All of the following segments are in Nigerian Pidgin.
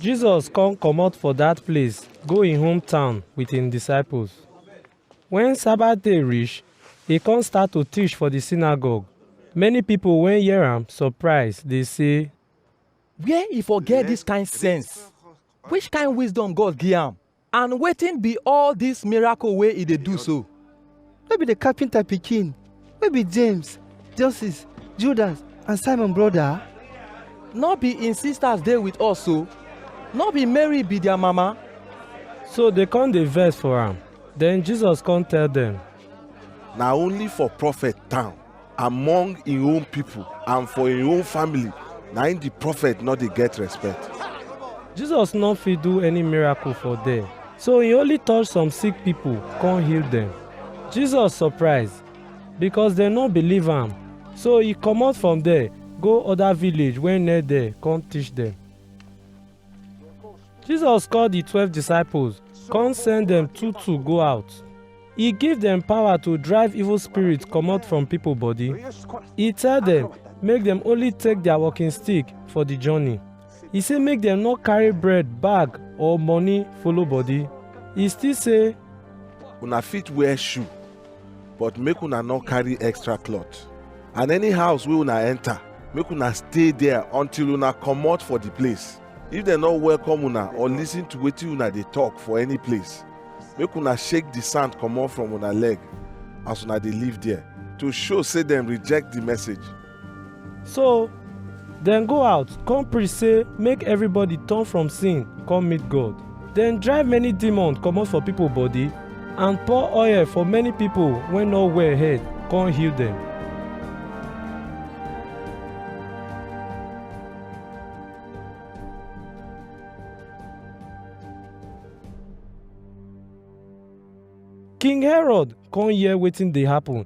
Jesus come comot for dat place go im hometown with im disciples. Wen Sabbath day reach, e come start to teach for di synagogue. Many pipo wey hear am surprise dey say, Where e for get dis kind sense? Which kind wisdom God give am? And wetin be all dis miracle wey e dey do so? No be the carpenter pikin wey be James, Joseph, Judas and Simon brother? No be im sisters dey with us so? No be Mary be their mama? So dey come dey vex for am. Then Jesus come tell dem. Na only for prophet town. among im own people and for im own family na im the prophet no dey get respect. jesus no fit do any miracle for there so he only touch some sick people come heal them jesus surprise because dem no believe am so he comot from there go other village wey near there come teach them Jesus call di twelve disciples come send dem two two go out. E give dem power to drive evil spirit comot from pipo body. E tell dem make dem only take their walking stick for di journey. E say make dem no carry bread, bag or money follow body. E still say Una fit wear shoe but make una no carry extra cloth and any house wey una enter make una stay there until una comot for the place if dem no welcome una or listen to wetin una dey talk for any place make una shake the sand comot from una leg as una dey live there to show say dem reject the message So dem go out come preach say make everybody turn from sin come meet God. Dem drive many demons comot for people body and pour oil for many people wey no well head come heal dem. King Herod come hear wetin dey happen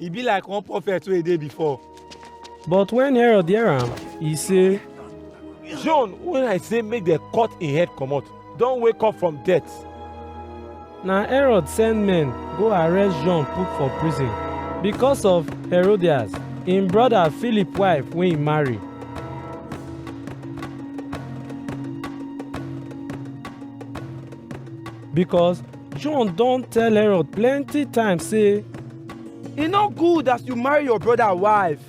e be like one prophet wey e dey before. But when Herod hear am, he say, John when I say make dem cut im head comot don wake up from death. Na Herod send men go arrest John put for prison because of Herodias, im brother Philip wife wey he marry. Because John don tell Herod plenty times say, E no good as you marry your brother wife.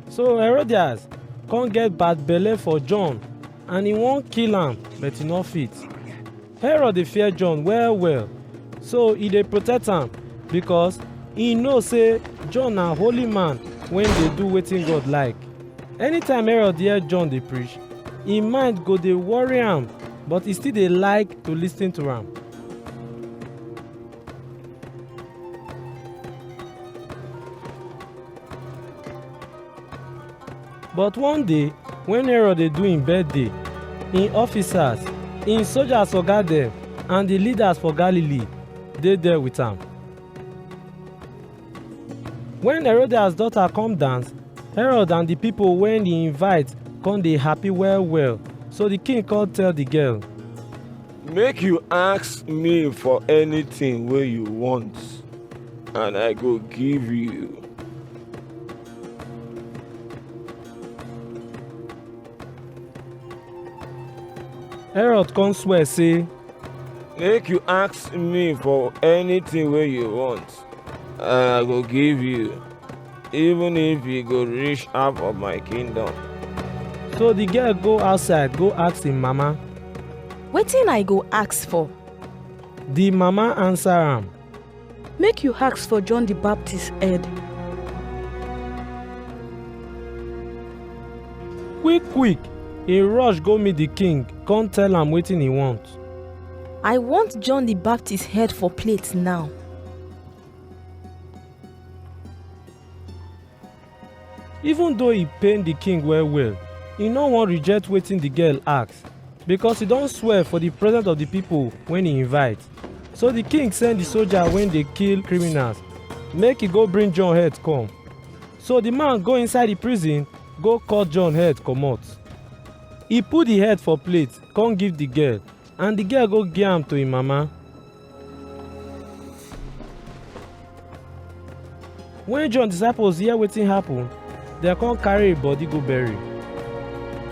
So Herodias come get bad belle for John and he wan kill am but he no fit. Herod dey fear John well well so he dey protect am because he know say John na holy man wey dey do wetin God like. Anytime Herod hear John dey preach, im mind go dey worry am, but e still dey like to lis ten to am. But one day, when Herod dey do im birthday, im officers, im soldiers oga dem, and the leaders for Galilee dey there with am. When Herodias daughter come dance, Herod and the people wey he invite come dey happy well well. So the king come tell the girl, Make you ask me for anything wey you want, and I go give you. Herod come swear say, Make you ask me for anything wey you want, I go give you, even if you go reach half of my kingdom. So the girl go outside, go ask him mama. Wetin I go ask for? The mama answer am. Make you ask for John the Baptist head. Quick, quick, he rush go meet the king, come tell am wetin he want. I want John the Baptist head for plate now. Even though e pain the king well well, e no wan reject wetin the girl ask because e don swear for the presence of the people when e invite. So the king send the soldier wey dey kill criminals make e go bring John head come. So the man go inside the prison go cut John head comot. E put the head for plate come give the girl and the girl go give am to im mama. When John disciples hear wetin happen, dem come carry im body go bury.